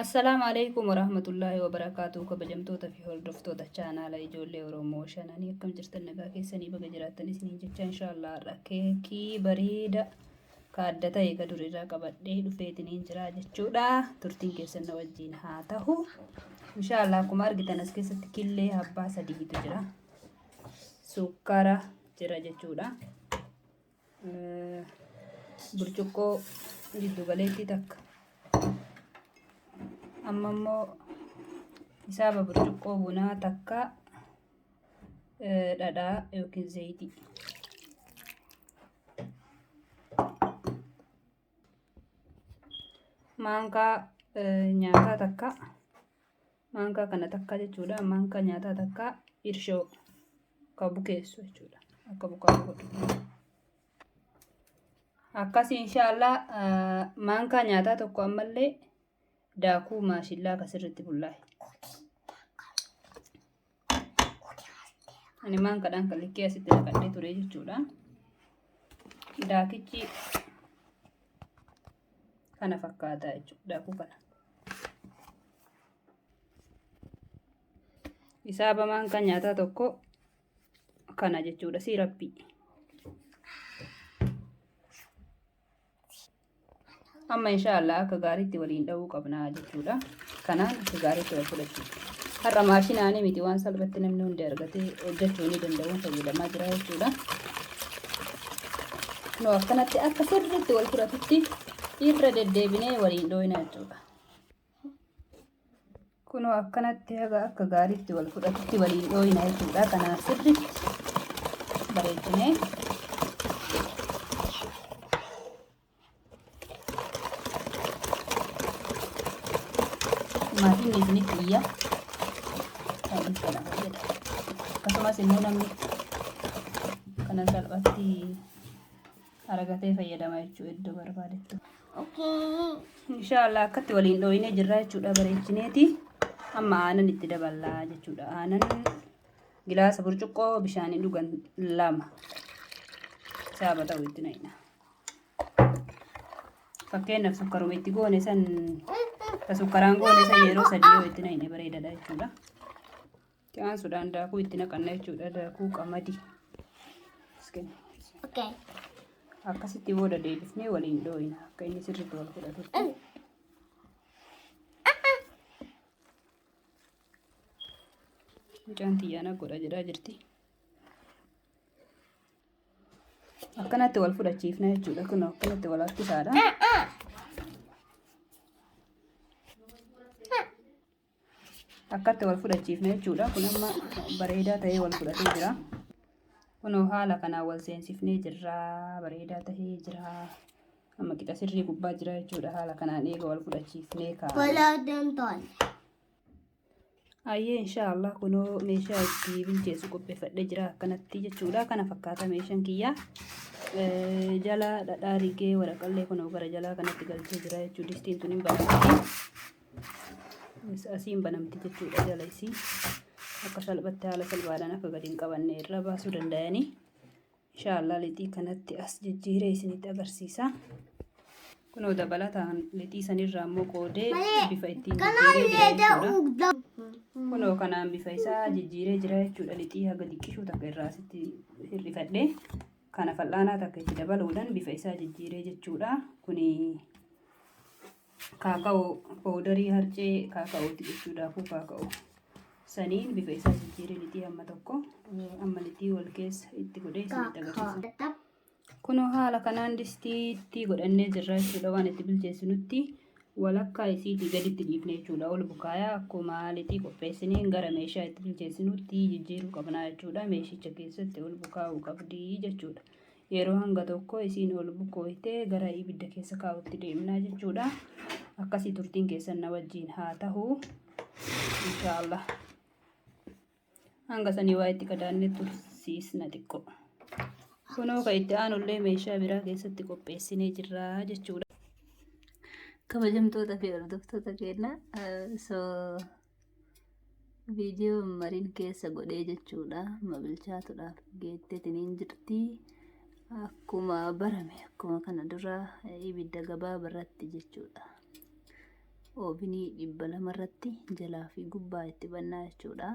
Assalaamu alaikum warahmatullaahi wabarakaatu kabajamtoota fi hordoftoota chaanaala ijoollee Oromoo shananii akkam jirtan nagaa keessanii baga jiraattan isiniin jecha inshaallah har'a keekii bareeda ka adda ta'e ka durirraa qabadhee dhufeetiniin jira jechuudha turtiin keessan na wajjiin haa tahu inshaallah akkuma argitan as keessatti killee abbaa sadiitu jira sukkara jira jechuudha. burcuqqoo jiddu galeettii takka amma immoo hisaaba burcuqqoo bunaa takka dhadhaa yookiin zayitii. maankaa nyaataa takka maankaa kana takkaa jechuudha maankaa nyaataa takkaa irshoo ka bukeessu jechuudha akka bukaa godhu akkas inshaallah maankaa nyaataa tokko ammallee daakuu maashillaa ka sirriitti bullaa'e ani maankaadhaan kan likkee asitti naqadhee ture jechuudha daakichi kana fakkaata jechuudha daakuu kana hisaaba maankaa nyaataa tokko kana jechuudha siirappi Amma insha Allah akka gaariitti waliin dha'uu qabna jechuudha. Kanaan akka gaariitti wal fudhachuudha. Har'a maashinaanii miti waan salphatti namni hundi argatee hojjechuu ni danda'uun fayyadamaa jira jechuudha. Nu akkanatti akka sirriitti wal fudhatutti irra deddeebinee waliin dhooyina jechuudha. kunoo akkanatti haga akka gaariitti wal fudhatutti waliin dhooyina jechuudha kanaan sirriitti bareechinee maatiin isinitti iyya kan inni kana fayyada akkasumas immoo namni kana salphatti Aragatee fayyadama jechuudha iddoo barbaadetti. Inshaallah akkatti waliin dhooyinee jirra jechuudha bareechineeti. Amma aanan itti daballaa jechuudha. Aanan gilaasa burcuqqoo bishaanii dhugan lama. Saaba ta'u itti naqna. Fakkeenyaaf sukkaruma itti goone san ta sukkaraan goone san yeroo sadii yoo itti naqne bareedadha jechuudha. Itti aansuudhaan daakuu itti naqanna jechuudha. Daakuu qamadii. Okay. Akkasitti booda deebifnee waliin dhooyina. Akka inni sirriitti wal fudhatutti. Mucaan tiyyaana godha jedhaa jirti. Akkanatti wal fudhachiifna jechuudha. Kun akkanatti wal harkisaadha. akkatti wal fudhachiifne jechuudha kun amma bareedaa ta'ee wal fudhatee jira kunoo haala kanaan wal seensifnee jirra bareedaa ta'ee jira amma qixa sirrii gubbaa jira jechuudha haala kanaan eega wal fudhachiifnee kaa'e. Ayyee inshaallah kunoo meeshaa itti bilcheessu qopheeffadhee jira akkanatti jechuudha kana fakkaata meeshaan kiyyaa. jala dhadhaa rigee waraqallee kunoo gara jalaa kanatti galchee jira jechuudha distiin tun hin baafatti. asiin banamti jechuudha jala isii akka salphatti haala salphaadhaan akka gadi hin qabanne irra baasuu danda'anii inshaallah lixii kanatti as jijjiiree isinitti agarsiisa. Kunoo dabalataan lixii sanirraa immoo qoodee bifa ittiin jijjiiree jira jechuudha. Kunoo kanaan bifa isaa jijjiiree jira jechuudha lixii haga diqqishuu takka irraa asitti hir'ifadhee kana fal'aanaa takka itti dabaluudhaan bifa isaa jijjiiree jechuudha. Kuni Kaaka'oo powdarii harcee kaaka'ooti jechuu daakuu kaaka'oo. Saniin bifa isaa jijjiiree lixii amma tokko amma lixii wal keessa itti godhee isinitti agarsiisa. Kunoo haala kanaan distiitti godhannee jirra jechuudha waan itti bilcheessinutti walakkaa isiitii gaditti dhiifne jechuudha ol bukaayaa akkuma lixii qopheessineen gara meeshaa itti bilcheessinutti jijjiiruu qabnaa jechuudha meeshicha keessatti ol bukaa'uu qabdii jechuudha. Yeroo hanga tokko isiin ol bukkooytee gara ibidda keessa kaa'utti deemnaa jechuudha. Akkasii turtiin keessan na wajjiin haa tahu. Inshaallah. Hanga sanii waa itti kadaanne tursiisna xiqqoo. Kunoo ka itti aanullee meeshaa biraa keessatti qopheessinee jirra jechuudha. Kabajamtoota fi hordoftoota keenya. So Viidiyoo mariin keessa godhee jechuudha. Ma bilchaatudhaaf geetteetiin hin jirti. Akkuma barame akkuma kana dura ibidda gabaaba irratti jechuudha. Oobinii dhibba lama irratti jalaa fi gubbaa itti bannaa jechuudha.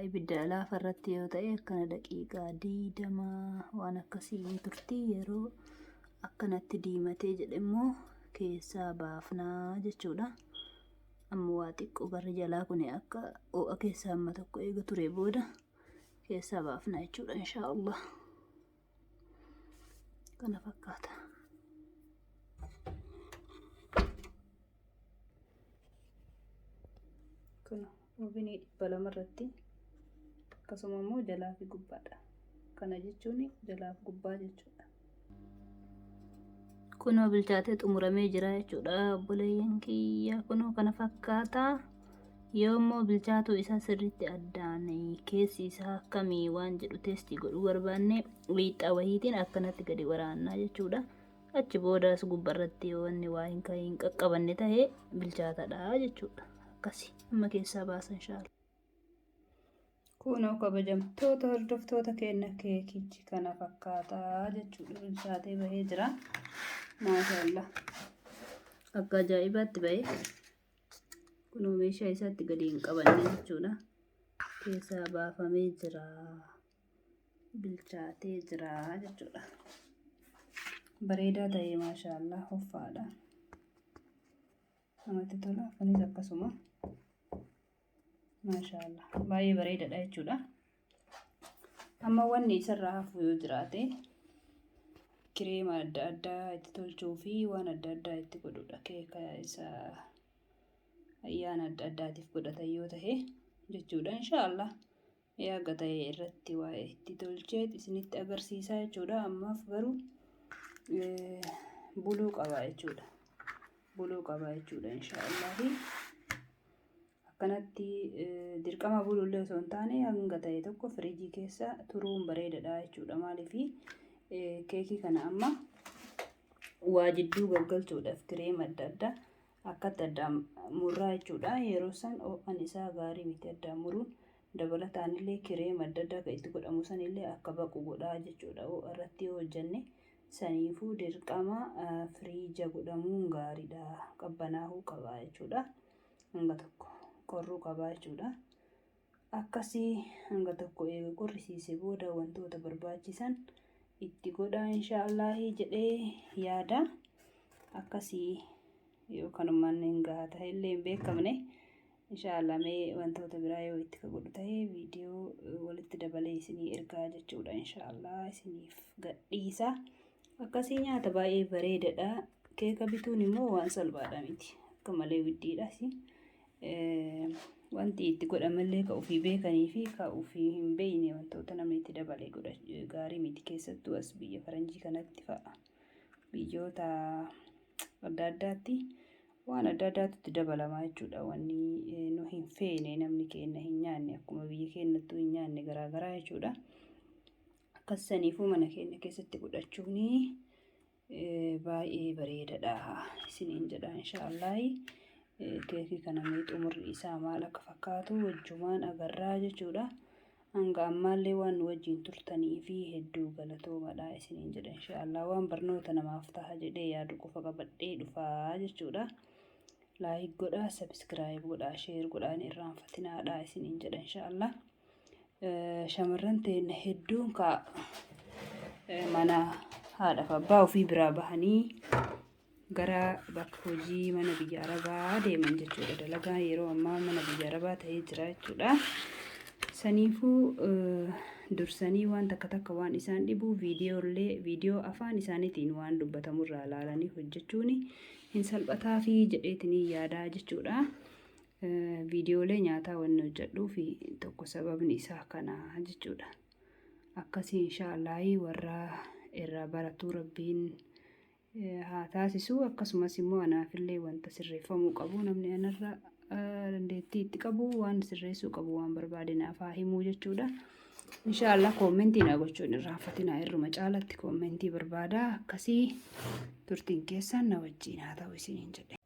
ibidda laafa irratti yoo ta'e akkana daqiiqaa diidama waan akkasii hin turti yeroo akkanatti diimatee jedhe immoo keessaa baafnaa jechuudha. Amma waa xiqqoo barri jalaa kun akka ho'a keessaa amma tokko eega ture booda keessaa baafnaa jechuudha inshaa Allah. kana fakkaata. Kun ovinii dhibba lama irratti akkasuma immoo jalaa fi gubbaadha. Kana jechuun jalaa fi gubbaa jechuudha. Kunoo bilchaatee xumuramee jira jechuudha obboleeyyan kiyya kunoo kana fakkaata. Yoo immoo bilchaatuu isaa sirriitti addaan keessi isaa akkamii waan jedhu teestii godhuu barbaanne wiixxaa wahiitiin akkanatti gadi waraannaa jechuudha. Achi boodaas gubbarratti yoo wanni waa hin ka'iin qaqqabanne ta'e bilchaatadha jechuudha. Akkasi amma keessaa baasan shaala. Kunoo kabajamtoota hordoftoota keenya keekichi kana fakkaataa jechuudha bilchaatee bahee jira. Maashaallah. Akka ajaa'ibaatti bahee. Kunoo meeshaa isaatti gadi hin qabanne jechuudha. Keessaa baafamee jira. Bilchaatee jira jechuudha. Bareedaa ta'ee maashaallah hoffaadha. Namatti tola. Kunis akkasuma maashaallah baay'ee bareedaadha jechuudha. Amma wanni isarraa hafu yoo jiraate kireema adda addaa itti tolchuu fi waan adda addaa itti godhudha. Keeka isa ayyaana adda addaatiif godhatan yoo tahe jechuudha. Inshaallah yaaga tahe irratti waa itti tolchee isinitti agarsiisaa jechuudha. Ammaaf garuu buluu qaba jechuudha. Buluu qaba jechuudha inshaallah. Akkanatti dirqama buluullee osoo hin taane hanga ta'e tokko firiijii keessa turuun bareedadha jechuudha. Maaliif keekii kana amma waa jidduu gaggalchuudhaaf kireema adda addaa akkatti addaan murraa jechuudha. Yeroo san ho'an isaa gaarii miti addaan muruun dabalataan illee kireema adda addaa kan itti godhamu san illee akka baqu godhaa jechuudha. Ho'a irratti yoo hojjenne saniifuu dirqama firiija godhamuun gaariidha. Qabbanaahuu qaba jechuudha. hanga tokko qorruu qabaa jechuudha. Akkasii hanga tokko eega qorrisiise booda wantoota barbaachisan itti godhaa inshaa Allaahii jedhee yaada. Akkasii yoo kanumaan hin gaha ta'e illee hin beekamne inshaa Allah mee wantoota biraa yoo itti ka godhu ta'e viidiyoo walitti dabalee isinii ergaa jechuudha inshaa Allah isiniif gadhiisa. Akkasii nyaata baay'ee bareedadha. Keeka bituun immoo waan salphaadha miti. Akka malee widdiidhas. Wanti itti godhamallee ka ofii beekanii fi ka ofii hin beekne wantoota namni itti dabalee godha gaarii miti keessattuu as biyya faranjii kanatti fa'a. Biyyoota adda addaatti waan adda addaatu itti dabalamaa jechuudha. Wanni nu hin feene namni keenya hin nyaanne akkuma biyya keenyattuu hin nyaanne garaagaraa jechuudha. Akkas saniifuu mana keenya keessatti godhachuun baay'ee bareedadha isiniin jedha inshaallahi. Keekii kana mee xumurri isaa maal akka fakkaatu wajjumaan agarraa jechuudha. Hanga ammaallee waan nu wajjin turtanii fi hedduu galatoomadha isiniin jedha inshaallah. Waan barnoota namaaf taha jedhee yaadu qofa qabadhee dhufaa jechuudha. Laayik godhaa, sabiskiraayib godhaa, sheer godhaa hin irraanfatinaadha isiniin jedha inshaallah. shamarran teenna hedduun kaa mana haadhaaf abbaa ofii biraa bahanii gara bakka hojii mana biyya arabaa deeman jechuudha. Dalagaan yeroo ammaa mana biyya arabaa ta'ee jira jechuudha. Saniifuu dursanii waan takka takka waan isaan dhibu viidiyoollee viidiyoo afaan isaaniitiin waan dubbatamu irraa ilaalanii hojjechuun hin salphataa fi jedheetiin yaadaa jechuudha. Viidiyoolee nyaataa wanni hojjedhuuf tokko sababni isaa kana jechuudha. Akkasii inshaallaahii warra irraa baratuu rabbiin haa taasisu akkasumas immoo anaafillee wanta sirreeffamuu qabu namni anarra dandeettii itti qabu waan sirreessuu qabu waan barbaade naaf haa himuu jechuudha. Inshaallah koommentii naa gochuun irraanfatinaa irruma caalatti koommentii barbaada akkasii turtiin keessaan na wajjiin haa ta'u isiniin jedhe.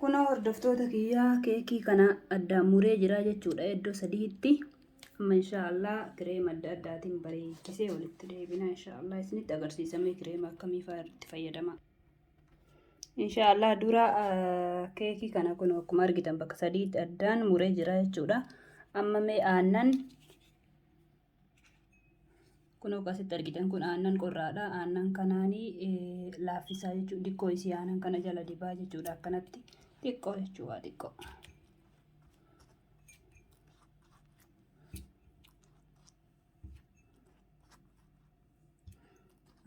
Kunoo hordoftoota kiyyaa keekii kana addaan muree jira jechuudha iddoo sadiitti. Amma inshaallah kireema adda addaatiin bareechisee walitti deebina inshaallah isinitti agarsiisamee kireema akkamii fa'a itti fayyadama. Inshaallah dura keekii kana kun akkuma argitan bakka sadiitti addaan muree jira jechuudha. Amma mee aannan kun akkasitti argitan kun aannan qorraadha. Aannan kanaanii laaffisaa jechuudha. Dikkoo isii aannan kana jala dibaa jechuudha akkanatti xiqqoo jechuudha xiqqoo.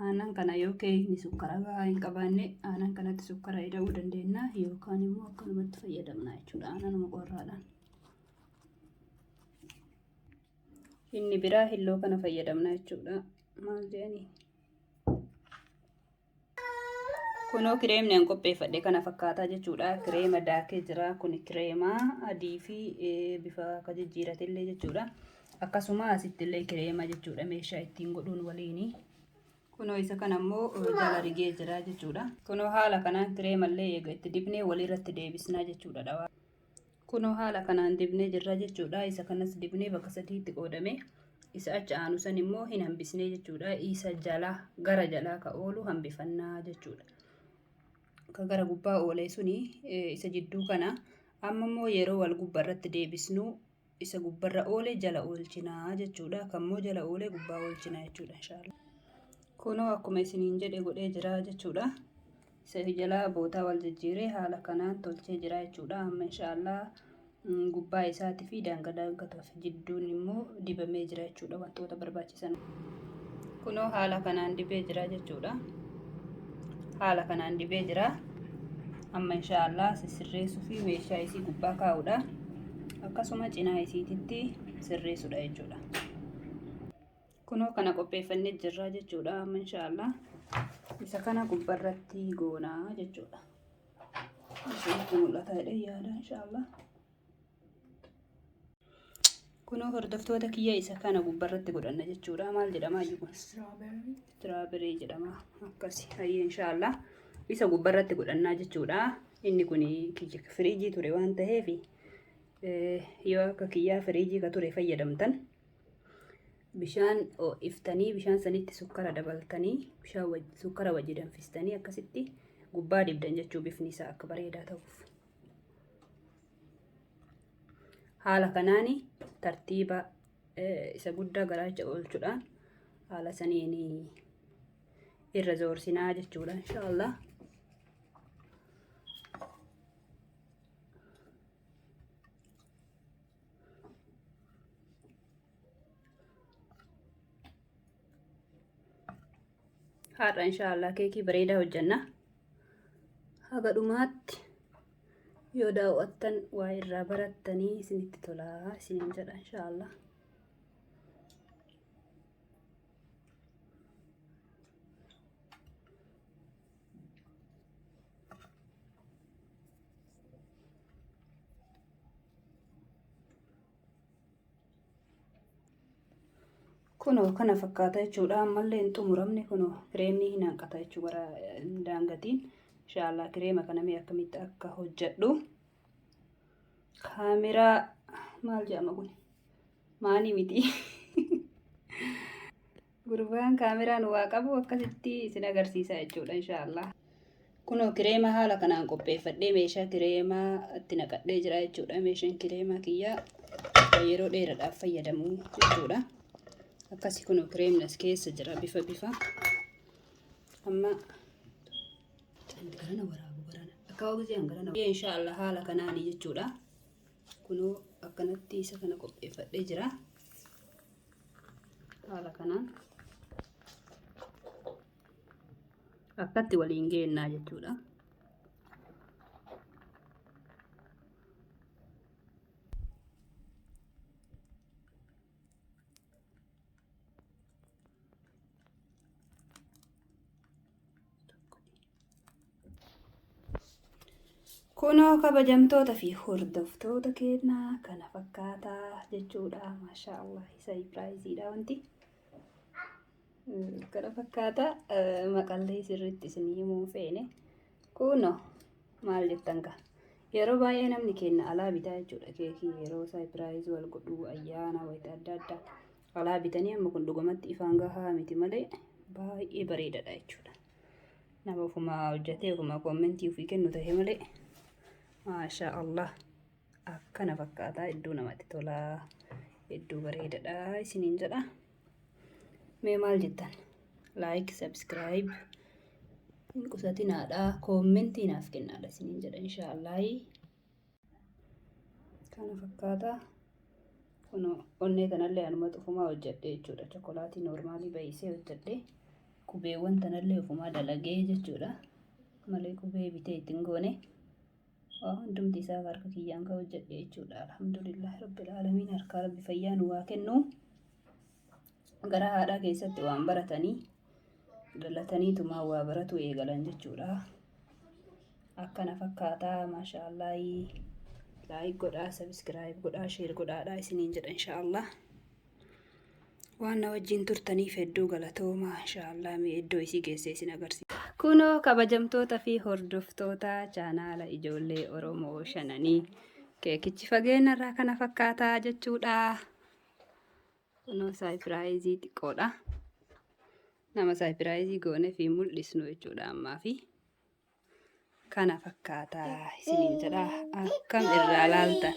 aanan kana yoo keeyni sukkara gahaa hin qabaanne aanan kanatti sukkara ida'uu dandeenya yookaan immoo akkanumatti fayyadamna jechuudha aananuma qorraadhaan. Inni biraa hilloo kana fayyadamna jechuudha. Maal jedhanii? Kunoo kireemni an qopheeffadhe kana fakkaataa jechuudha. Kireema daakee jira. Kun kireema adii fi bifa akka jijjiiratillee jechuudha. Akkasuma asittillee kireema jechuudha meeshaa ittiin godhuun waliini. Kunoo isa kana immoo jala rigee jira jechuudha. Kunoo haala kanaan kireemallee eega itti dibnee walirratti deebisnaa jechuudha dhawaa. Kunoo haala kanaan dibnee jirra jechuudha. Isa kanas dibnee bakka sadiitti qoodame. Isa achi aanu san immoo hin hambisnee jechuudha. Isa jalaa gara jalaa ka oolu hambifannaa jechuudha. Ka gara gubbaa oolee suni isa jidduu kana amma immoo yeroo wal gubba irratti deebisnu isa gubbarra oole jala oolchina jechuudha. Kan immoo jala oole gubbaa oolchina jechuudha inshaalla. Kunoo akkuma isiniin jedhe godhee jira jechuudha. Isa jalaa bootaa wal jijjiiree haala kanaan tolchee jira jechuudha. Amma inshaalla gubbaa isaatii fi daanga daangatu jidduu immoo dibamee jira jechuudha wantoota barbaachisu. kunoo haala kanaan dibee jira jechuudha haala kanaan dibee jira amma insha Allah sirreessuu fi meeshaa isii gubbaa kaa'uudha akkasuma cinaa isiititti sirreessuudha jechuudha kunoo kana qopheeffannee jirra jechuudha amma insha Allah isa kana gubbarratti goonaa jechuudha. Isin mul'ata jedhee yaada insha Allah. kunoo hordoftoota kiyya isa kana gubbarratti godhanna jechuudha maal jedhama ayyu kun istiraaberii jedhama akkasi hayyi inshaallah isa gubbarratti godhannaa jechuudha inni kun kiyya firiijii ture waan ta'eef yoo akka kiyyaa firiijii ka ture fayyadamtan bishaan ho'iftanii bishaan sanitti sukkara dabaltanii bishaan waj- sukkara wajji danfistanii akkasitti gubbaa dibdan jechuu bifni isaa akka bareedaa ta'uuf haala kanaan tartiiba isa guddaa garaacha oolchuudhaan haala saniin irra zoorsinaa jechuudha inshaallah har'a inshaallah keekii bareedaa hojjanna haga dhumaatti yoo daawwattan waa irraa barattanii isinitti tolaa isiniin jedha inshaallah kunoo kana fakkaata jechuudha ammallee hin xumuramne kunoo kireemni hin hanqata jechuu gara daangatiin inshaallah kireema kana mee akkamitti akka hojjedhu kaameraa maal jedhama kun maanii miti Gurbaan kaameraa nu waa qabu akkasitti isin agarsiisa jechuudha inshaallah. Kunoo kireemaa haala kanaan qopheeffadhee meeshaa kireemaa itti naqadhee jira jechuudha. Meeshaan kireemaa kiyyaa yeroo dheeraadhaaf fayyadamu jechuudha. Akkasii kunoo kireemni as keessa jira bifa bifa. Amma garana waraabu garana akka hawwiseen garana. Inshaallah haala kanaan jechuudha. Kunoo akkanatti isa kana qopheeffadhee jira. haala kanaan akkatti waliin geennaa jechuudha. Kunoo kabajamtoota fi hordoftoota keenyaa kana fakkaataa jechuudha. Maashaa Allah isa Ibraayiziidha wanti. Kana fakkaata maqallee sirriitti isin himuu feene. Kunoo maal jettan gaa. Yeroo baay'ee namni keenya alaa bitaa jechuudha keekii yeroo isaa Ibraayiz wal godhu ayyaana wayita adda addaa alaa bitanii amma kun dhugumatti ifaan gahaa miti malee baay'ee bareedadha jechuudha. nama ofuma hojjatee ofuma kommentii ofii kennu ta'e malee maashaa allah akkana fakkaata hedduu namatti tola hedduu bareedadha isiniin jedha mee maal jettan laayik sabskiraayib hin qusatinaadha kommentii naaf kennaadha isiniin jedha inshaallahi kana fakkaata kun onnee tanallee anumatu ofumaa hojjedhe jechuudha chokolaatii noormaalii baay'isee hojjedhe qubeewwan tanallee ofumaa dalagee jechuudha malee qubee bitee ittiin goone waa hundumti isaa harka kiyyaan kan hojjedhe jechuudha alhamdulillah rabbil aalamiin harkaa rabbi fayyaa nu waa kennu gara haadhaa keessatti waan baratanii dhalatanii tumaa waa baratuu eegalan jechuudha. Akkana fakkaataa maashaallaahii laayik godhaa sabiskiraayib godhaa sheer godhaadhaa isiniin jedha inshaallah. Waan na wajjin turtaniif hedduu galatoomaa inshaallah mee iddoo isii geessee isin agarsiisa. Kunoo kabajamtoota fi hordoftoota chaanaala ijoollee Oromoo shananii keekichi fageenya irraa kana fakkaataa jechuudha. Kunoo saayipiraayizii xiqqoodha. Nama saayipiraayizii goone fi mul'isnu jechuudha ammaa fi kana fakkaata isiniin jedha akkam irraa laaltan.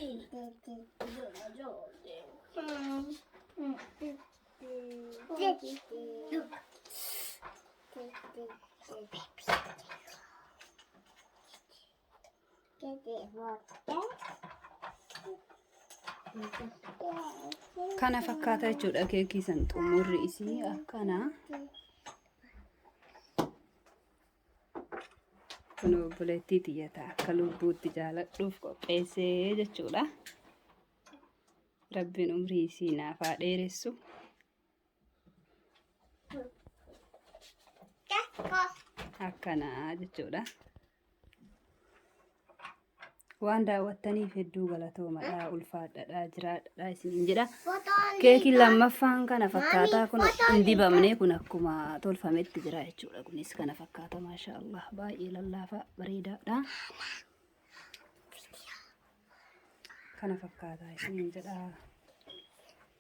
Thank you. kana fakkaata jechuudha keekii san xumurri isii akkana kun obboleettii tiyyata akka lubbuutti jaaladhuuf qopheessee jechuudha rabbiin umrii isii naaf haa dheeressu akkana jechuudha. Waan daawwattaniif hedduu galatoomadha, ulfaadhadha, jiraadhadha isiniin jedha. Keekiin lammaffaan kana fakkaataa kun hin dibamne kun akkuma tolfametti jira jechuudha. Kunis kana fakkaata maashaa Allah baay'ee lallaafaa bareedaadha. Kana fakkaataa isiniin jedha.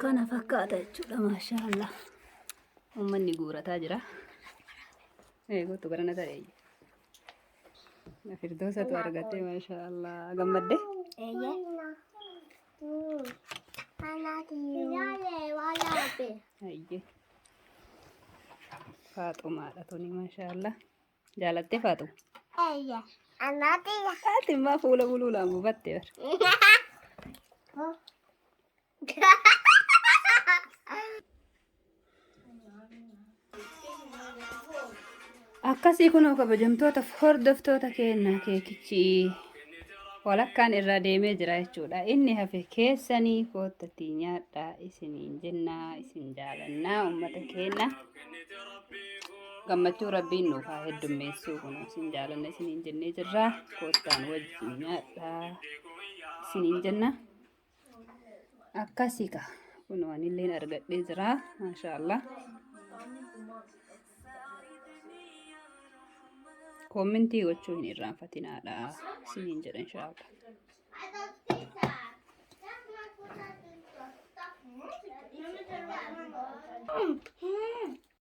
Kana fakkaata jechuudha maashaa Allah. Uummanni guurataa jira. Ee kottu gara na ta'e. Firdoosatu argate maashaa Allah gammadde. Hayyee. Faaxumaadha tuni maashaa Allah. Jaalattee Faaxuma. Ati immoo fuula buluulaan buufatte bara. Akkasii kunoo kabajamtoota hordoftoota keenyaa keekichi walakkaan irraa deemee jira jechuudha. Inni hafe keessanii koottatti nyaadhaa isiniin jennaa isin jaalannaa uummata keenya. Gammachuu rabbiin nuuf haa heddummeessuu kunoo isin jaalanna isiniin jennee jirra. Koottaan wajjin nyaadhaa isiniin jenna. akkasii ka kun wanilleen argadhee jira maashaallah koomentii gochuu hin irraanfatinaadha isiniin jedha inshaallah